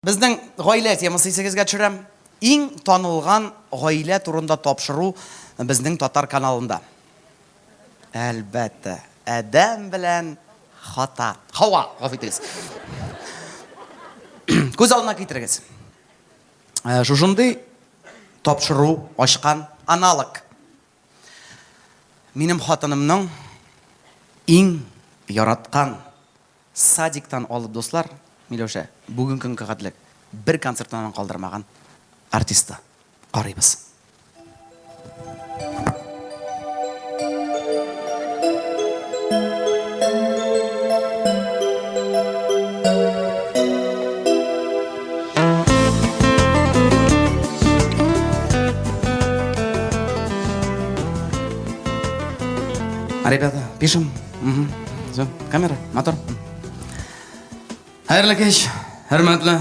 Безнең гаилә темасы исегезгә төшерәм. Иң танылган гаилә турында тапшыру безнең татар каналында. Әлбәттә, Адәм белән Хата. Хава, гафу итегез. Күз алдына китерегез. Шушындый тапшыру ачкан аналог. Минем хатынымның иң яраткан. Садиктан алып дуслар, Миләүшә, бүген көнгә кадрлек бер концертыннан калдырмаган артистта. Карыйбыз. Ребята, пишем. Все, камера, мотор. Хәерле кич, хөрмәтле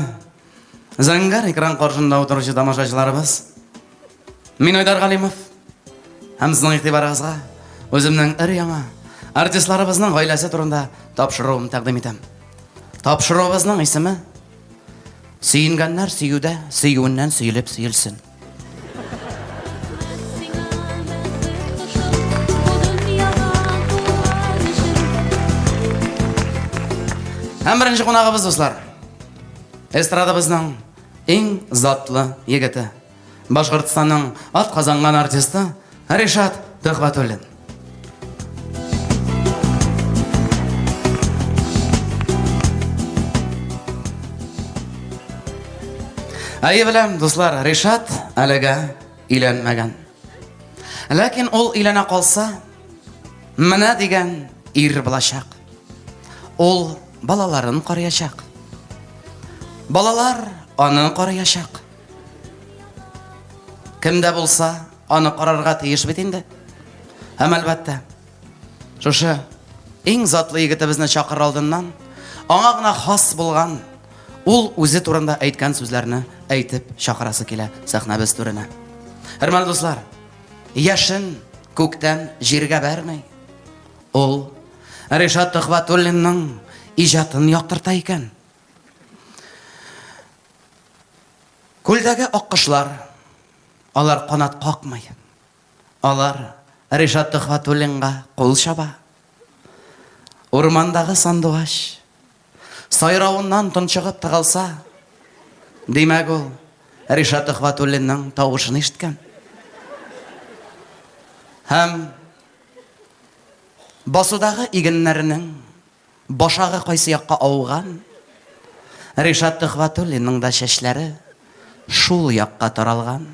Зәңгәр экран каршында утыручы тамашачыларыбыз. Мин Айдар Галимов. Һәм сезнең игътибарыгызга үземнең өр яңа артистларыбызның гаиләсе турында тапшыруым тәкъдим итәм. Тапшыруыбызның исеме Сөенгәннәр сөюдә, сөюеннән сөелеп сөелсен. Һәм беренче кунагыбыз дуслар. Эстрадабызның иң затлы егете. Башкортстанның атказанган артисты Ришат Төхвәтуллин. Әйе беләм, дуслар, Ришат әлегә өйләнмәгән. Ләкин ул өйләнә калса, менә дигән ир булачак. Ул балаларын карыячак. Балалар аны карыячак. Кемдә булса, Аны карарга тиеш бит инде. Һәм әлбәттә, шушы иң затлы егетебезне чакыр алдыннан аңа гына хас булган ул үзе турында әйткән сүзләрне әйтеп чакырасы килә сәхнәбез түренә. Хөрмәтле дуслар, яшен күктән җиргә бәрмәй. Ул Ришат Төхватуллинның иҗатын яктырта икән. Күлдәге аккошлар Алар канат какмый. Алар Ришат Төхвәтуллинга кул чаба. Урмандагы сандугач сайравыннан тончыгып тыгылса, димәк ул Ришат Төхвәтуллинның тавышын ишеткән. Һәм басудагы игеннәрнең Башагы кайсы якка ауган? Ришат Төхвәтуллинның да чәчләре шул якка таралган.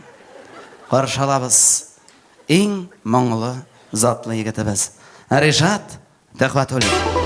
Каршы алабыз иң моңлы, затлы егетебез Ришат Төхвәтуллин.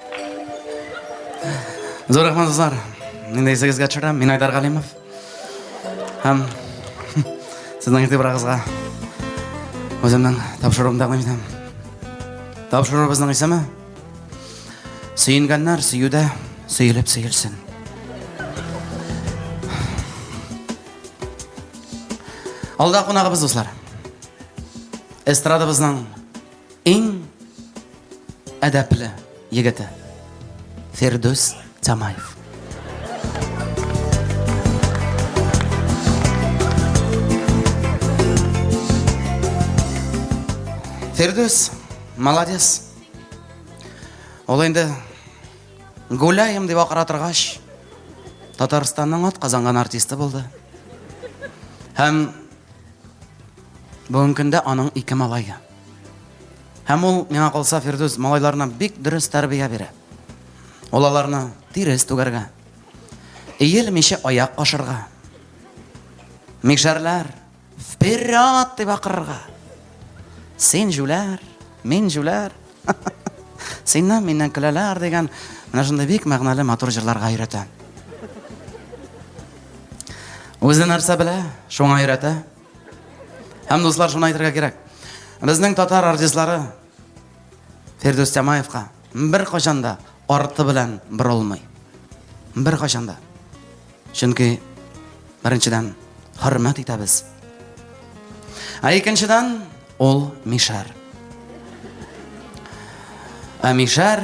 Зур рәхмәт, дуслар. Мин дә исегезгә төшерәм. Мин Айдар Галимов. Һәм сезнең игътибарыгызга үземнең тапшыруымны тәкъдим итәм. Тапшыруыбызның исеме Сөенгәннәр сөюдә сөелеп сөелсен. Алда кунагыбыз, дуслар. Эстрадабызның Иң әдәпле егете Фердус Тамаев. Фердус, молодец. Ул инде гуляем дип акыра торгач, Татарстанның ат казанган артисты булды. Һәм бүгенге көндә аның ике малае. Һәм ул, миңа калса, Фирдүс малайларына бик дөрес тәрбия бирә. Ул аларны тирес түгәргә, иелмичә аяк ашырга, мишәрләр, вперед дип акырырга. Син җүләр, мин җүләр, синнән миннән көләләр дигән менә шундый бик мәгънәле матур җырларга өйрәтә. Үзе нәрсә белә, шуңа өйрәтә. Һәм дуслар шуны әйтергә кирәк. Безнең татар артистлары Фердүс Тямаевка бер кашанда арты белән борылмый. Бер кашанда. Чөнки беренчедән хөрмәт итәбез. Ә икенчедән ул Мишәр. Ә Мишәр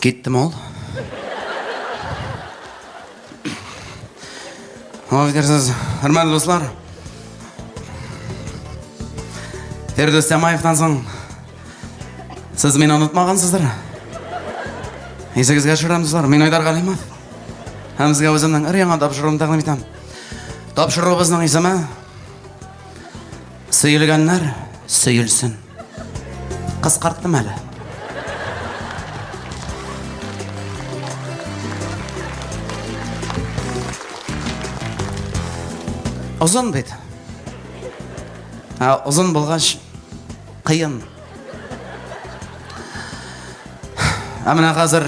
Китте мол. Аңа фикерсез, хөрмәтле дуслар. Фирдүс Тямаевтан соң сез мине онытмагансыздыр. Исегезгә төшерәм, дуслар, мин Айдар Галимов. Һәм сезгә үземнең өр яңа тапшыруымны тәкъдим итәм. Тапшыруыбызның исеме Сөйлгәннәр сөйлсен. Кыскарттым әле. Озын бит. Озын булгач кыен. Ә менә хәзер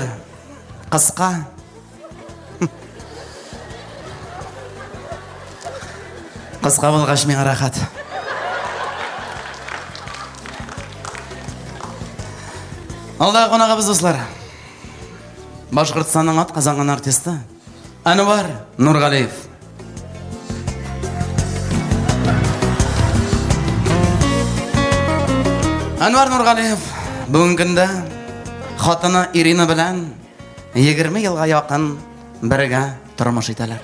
кыска Кыска булгач миңа рәхәт. Алдагы кунагыбыз дуслар. Башкортстанның ат казанган артисты Әнвар Нургалиев. Әнвар Нургалиев бүгенге көндә хатыны Ирина белән Егерме елга якын бергә тормыш итәләр.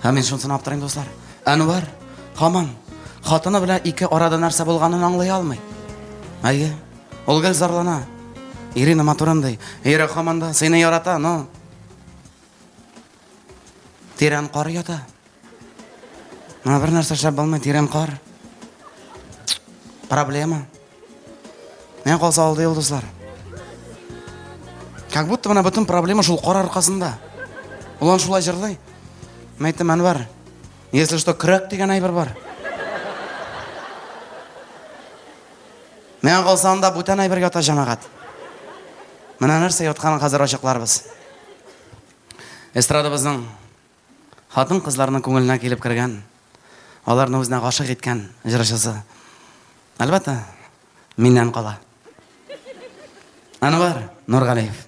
Һәм мин шунсын аптырыйм, дуслар. Әнвар хаман хатыны белән ике арада нәрсә булганын аңлый алмый. Әйе, ул гел зарлана. Ирина матурын ди. Ире хаманда сыйны ярата, но Тирән кар ята. Моңа бер нәрсә эшләп булмый, тирән кар. Проблема. Менә калса алды йолдызлар. Как будто менә бөтен проблема шул кар аркасында. Ул ан шулай җырлый. Мен әйттем, Әнвәр, если что, крак дигән әйбер бар. Менә калса анда бүтән әйбер ята җәмәгать. Менә нәрсә ятканын хәзер ачыкларбыз. Эстрадабызның хатын-кызларның күңеленә килеп кергән, аларны үзенә гашык иткән җырчысы. Әлбәттә, миннән кала. Анвар Нургалиев.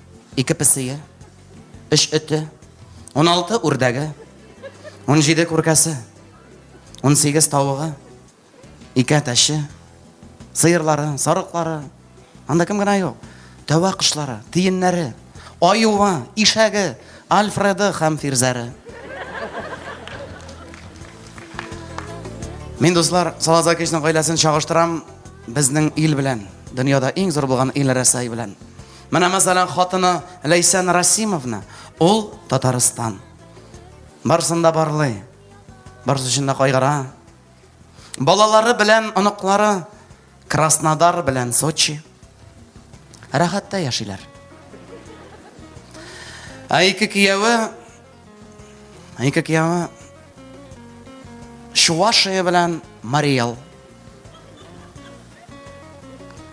ике песие, өч эте, уналты үрдәге, унҗиде күркәсе, унсигез тавыгы, ике әтәче, сыерлары, сарыклары, анда кем генә юк, тәвә кошлары, тиеннәре, аюы, ишәге, Альфреды һәм Фирзәре. Мин дуслар, Салазакичның гаиләсен чагыштырам безнең ил белән. Дөньяда иң зур булган ил Рәсәй белән. Менә мәсәлән хатыны Ләйсән Расимовна, ул Татарстан. Барсын да барлый. Барсы өчен дә кайгыра. Балалары белән оныклары Краснодар белән Сочи. Рәхәттә яшиләр. Ә ике кияве Ике кияме Чувашия белән Мариэл.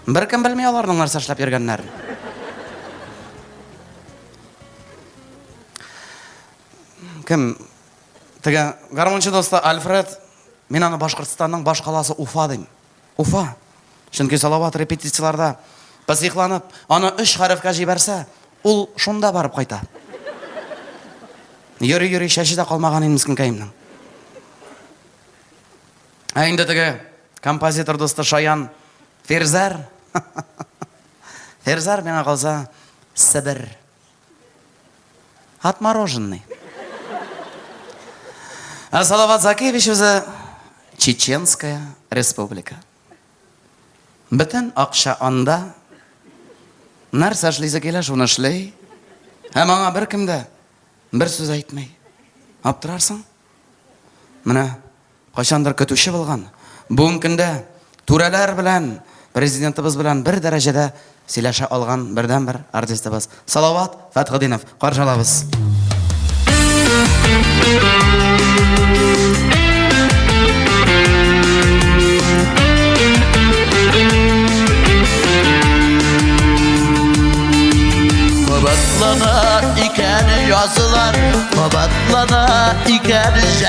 Беркем белми аларның нәрсә эшләп йөргәннәрен. Кем? Теге гармончы досты Альфред, мин аны Башкортстанның баш каласы Уфа дим. Уфа. Чөнки Салават репетицияләрдә психланып, аны өч хәрефкә җибәрсә, ул шунда барып кайта. Йөри-йөри чәче дә калмаган инде мескенкәемнең. Ә инде теге композитор дусты Шаян Фирзәр. Фирзәр миңа калса Себер Отмороженный. А Салават Закиевич үзе Чеченская республика. Бөтен акча анда. Нәрсә эшлисе килә, шуны эшли. Һәм аңа беркем дә бер сүз әйтмәй. Аптырарсың? Менә Кайчандыр көтүче булган бүген көндә түрәләр белән, президентыбыз белән бер дәрәҗәдә сөйләшә алган бердәнбер артистыбыз Салават Фәтхетдинов каршылабыз. Кабатлана икән язулар, кабатлана икән җәй.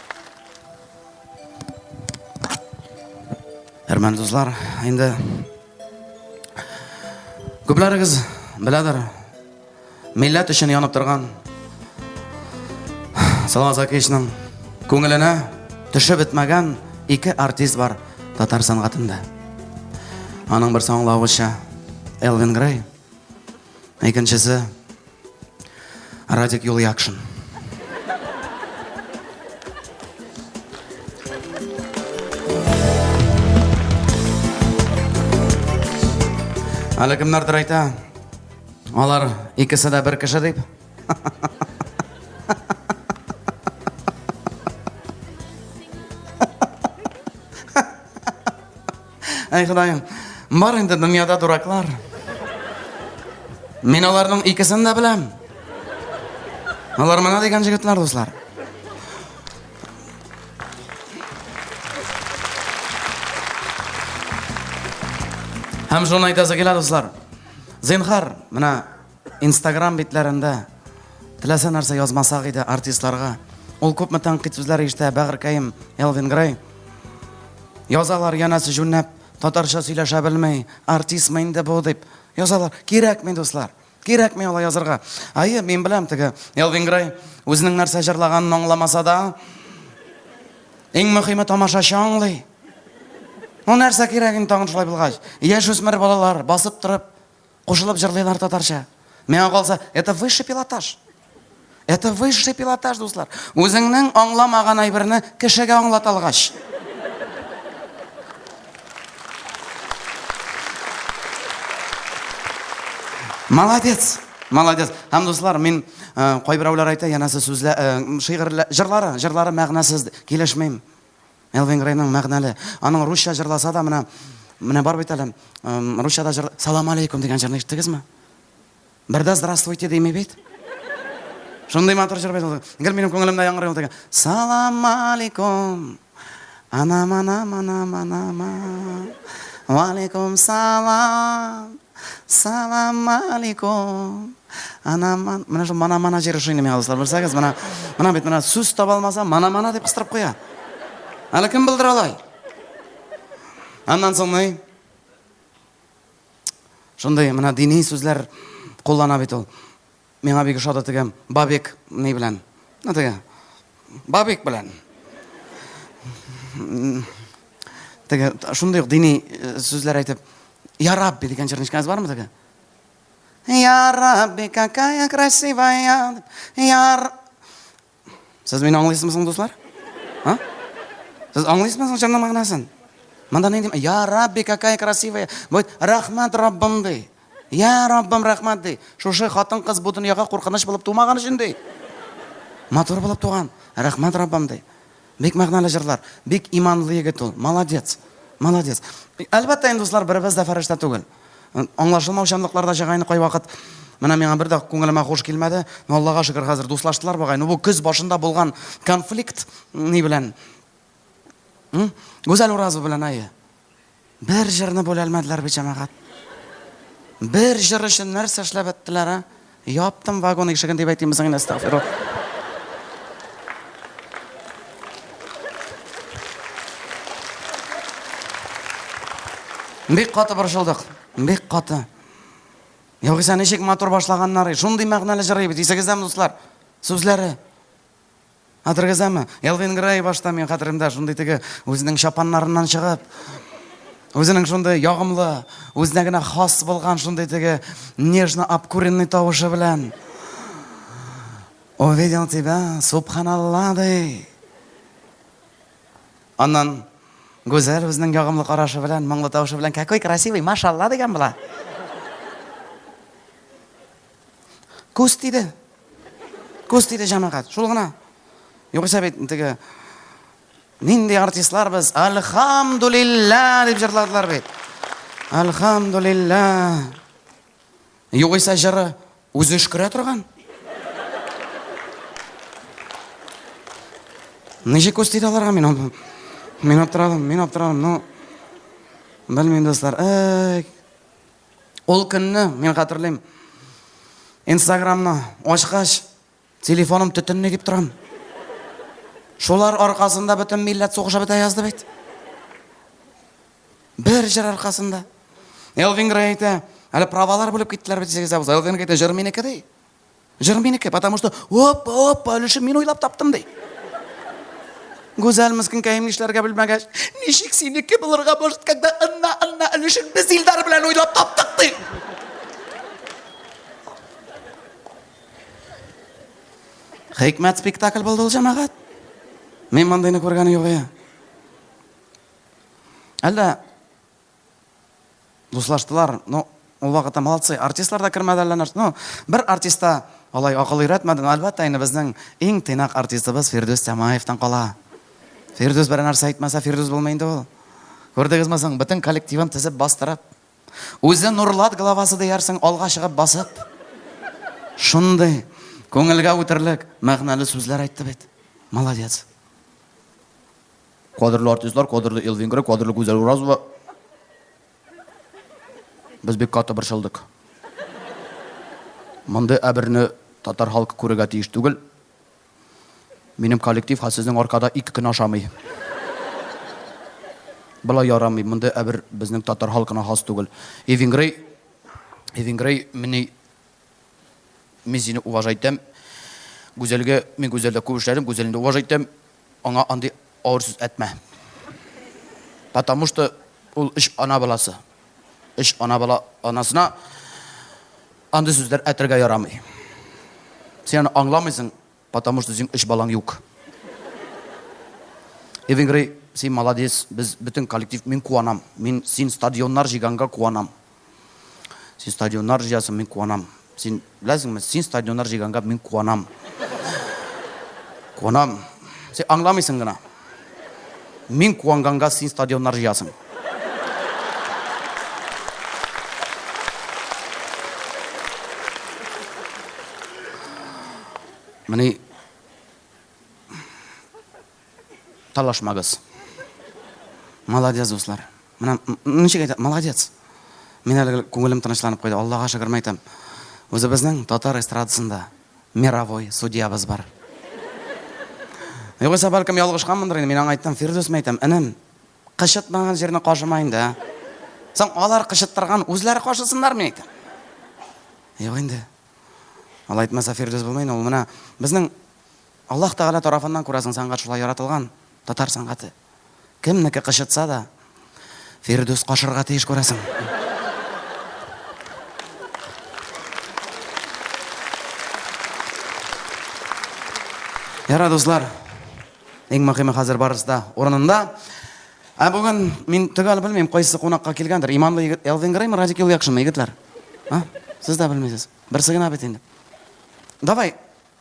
Әрмән дуслар, инде күпләрегез беләдер, милләт өчен янып торган Салават Закишның күңеленә төшеп бетмәгән ике артист бар татар сәнгатендә. Аның берсе аңлавыча Элвин Грей, икенчесе Радик Юльякшин. Әле кемнәрдер әйтә, алар икесе дә бер кеше дип. Әй Ходаем, бар инде дөньяда дураклар. Мин аларның икесен дә беләм. Алар мына дигән җегетләр, дуслар. Һәм шуны әйтәсе килә, дуслар. Зинхар, менә Инстаграм битләрендә теләсә нәрсә язмасак иде артистларга. Ул күпме тәнкыйть сүзләр ишетә Бәгыркаем, Элвин Грей. Язалар янәсе җүннәп, татарча сөйләшә белми, артистмы инде бу дип. Язалар, кирәкми дуслар. Кирәкми алай язырга. Ае, мин беләм теге Элвин Грей үзенең нәрсә җырлаганын аңламаса да, иң мөһиме тамашачы аңлый. Ну нәрсә кирәк инде тагын шулай булгач? Яшүсмер балалар басып торып Кушылып җырлыйлар татарча. Миңа калса, это высший пилотаж. Это высший пилотаж, дуслар. Үзеңнең аңламаган әйберне кешегә аңлата алгач. Молодец. Молодец. Һәм дуслар, мин э, кайберәүләр әйтә, янәсе сүзлә, э, шигырьләр, җырлары, җырлары мәгънәсез, килешмим. Элвин Грейның мәгънәле. Аның русча җырласа да менә менә бар бит әле. Русча да җыр Салам алейкум дигән җырны ишеттегезме? Бердә здравствуйте дими бит. Шундый матур җыр бит ул. Гел минем күңелемдә яңгырый ул дигән. Салам алейкум. Анам анам анам анам. Ва алейкум салам. Салам алейкум. Ана ман, менә шул мана мана җыры шуны миңа дуслар, белсәгез, менә менә бит менә сүз таба алмаса, мана мана дип кыстырып куя. Әле кем булдыра алай? Аннан соң ни? Шундый менә дини сүзләр куллана бит ул. Миңа бик ошады теге Бабик ни белән. Ну теге Бабик белән. Теге шундый ук дини э, сүзләр әйтеп, Я Рабби дигән җырнычкагыз бармы теге? Я Рабби, какая красивая. Я Сез мине аңлыйсызмы соң, дуслар? А? Сез аңлыйсызмы соң җырның мәгънәсен? Монда нинди, я Рабби, какая красивая. Вот рахмат Раббым ди. Я Раббым рахмат ди. Шушы хатын-кыз бу дөньяга куркыныч булып тумаган өчен ди. Матур булып туган. Рахмат Раббым ди. Бик мәгънәле җырлар. Бик иманлы егет ул. Молодец. Молодец. Әлбәттә инде дуслар, беребез дә фәрештә түгел. Аңлашылмаучанлыклар да чыга инде кайвакыт. Менә миңа бер дә күңелемә хуш килмәде. Но Аллага шөкер, хәзер дуслаштылар бугай. Ну бу көз башында булган конфликт ни белән? Гүзәл Уразова белән, әйе. Бер җырны бүләлмәделәр бит, җәмәгать. Бер җыр өчен нәрсә эшләп беттеләр, а? Яптым вагон ишеген дип әйтимме соң инде, астагфирулла. Бик каты борчылдык. Бик каты. Югыйсә ничек матур башлаганнар, шундый мәгънәле җыр бит. Исегездәме, дуслар? Сүзләре. Хәтергездәме? Элвин Грей башта мин хәтеремдә шундый теге үзенең чапаннарыннан чыгып, үзенең шундый ягымлы, үзенә генә хас булган шундый теге нежно обкуренный тавышы белән Увидел тебя, субханалла, ди. Аннан Гүзәл үзенең ягымлы карашы белән, моңлы тавышы белән, какой красивый, машалла дигән була. Күз тиде. Күз тиде җәмәгать, шул гына. Югыйсә бит теге нинди артистлар без, альхамдулилла дип җырладылар бит. Альхамдулилла. Югыйсә җыры үзе өшкерә торган. Ничек күз тиде аларга мин аны? Мин аптырадым, мин аптырадым. Ну, белмим, дуслар. Эй, Ул көнне, мин хәтерлим, инстаграмны ачкач, телефоным төтенли дип торам. Шулар аркасында бөтен милләт сугыша бетә язды бит. Бер җыр аркасында. Элвин Грей әйтә, әле правалар бүлеп киттеләр бит җиргә. Элвин әйтә, җыр минеке ди. Җыр минеке, потому что оппа, оппа, өлешем мин уйлап таптым ди. Гүзәл мескенкәем нишләргә белмәгәч, ничек синеке булырга может, когда ынна, ынна өлешен без Илдар белән уйлап таптык ди. Хикмәт спектакль булды ул җәмәгать. Мин мондыйны күргәне юк я. Әллә Дуслаштылар, ну, ул вакытта молодцы, артистлар да кермәде әллә нәрсә. Ну, бер артиста алай акыл өйрәтмәде, но әлбәттә инде безнең иң тыйнак артистыбыз Фирдүс Тямаевтан кала. Фирдүс бер нәрсә әйтмәсә, Фирдүс булмый инде ул. Күрдегезме соң, бөтен коллективын тезеп бастырып. Үзе Нурлат главасы диярсең, алга чыгып басып. Шундый күңелгә үтерлек мәгънәле сүзләр әйтте бит. Молодец. Кадерле артистлар, кадерле Ил Венгры, кадерле Гүзәл Уразова. Без бик каты борчылдык. Мондый әберне татар халкы күрергә тиеш түгел. Минем коллектив ха сезнең аркада ике көн ашамый. Болай ярамый, мондый әбер безнең татар халкына хас түгел. И Венгрый, и Венгрый, мени мин сине уважайтам. Гүзәлгә, мин Гүзәлдә күп эшләдем, Гүзәлне уважайтам. Аңа андый авыр сүз әтмә. Потому что ул өч ана баласы. Өч ана бала анасына андый сүзләр әтергә ярамый. Син аны аңламыйсың, потому что син өч балаң юк. Эвенгрей, син молодец, без бөтен коллектив, мин куанам. Мин син стадионнар җыйганга куанам. Син стадионнар җыясың, мин куанам. Син беләсеңме, син стадионнар җыйганга мин куанам. Куанам. Син аңламыйсың гына. Мин куанганга син стадионнар җыясың. Менә Талашмагыз. Молодец, дуслар. Менә ничек әйтә, молодец. Мин әле күңелем тынычланып куйды. Аллага шөкер мәйтәм. Үзебезнең татар эстрадасында мировой судьябыз бар. Югыйсә, бәлкем ялгышканмындыр инде. Мин аңа әйттем, Фирдүс мәйтәм, энем, кычытмаган җирне кашыма инде. А? Соң алар кычыттырган, үзләре кашысыннар мин әйтәм. Юк инде. Алай әйтмәсә Фирдүс булмый инде. Ул менә безнең Аллаһ Тәгалә тарафыннан, күрәсең, сәнгать шулай яратылган, татар сәнгате. Кемнеке кычытса да, Фирдүс качырга тиеш, күрәсең. Ярар, дуслар, иң мөхиме хәзер барысы да урынында. Ә бүген мин төгәл белмим, кайсы кунакка килгәндер. Иманлы егет Элвин Греймы, Радик Юлъякшинмы, егетләр? А? Сез дә белмисез. Берсе генә бит инде. Давай,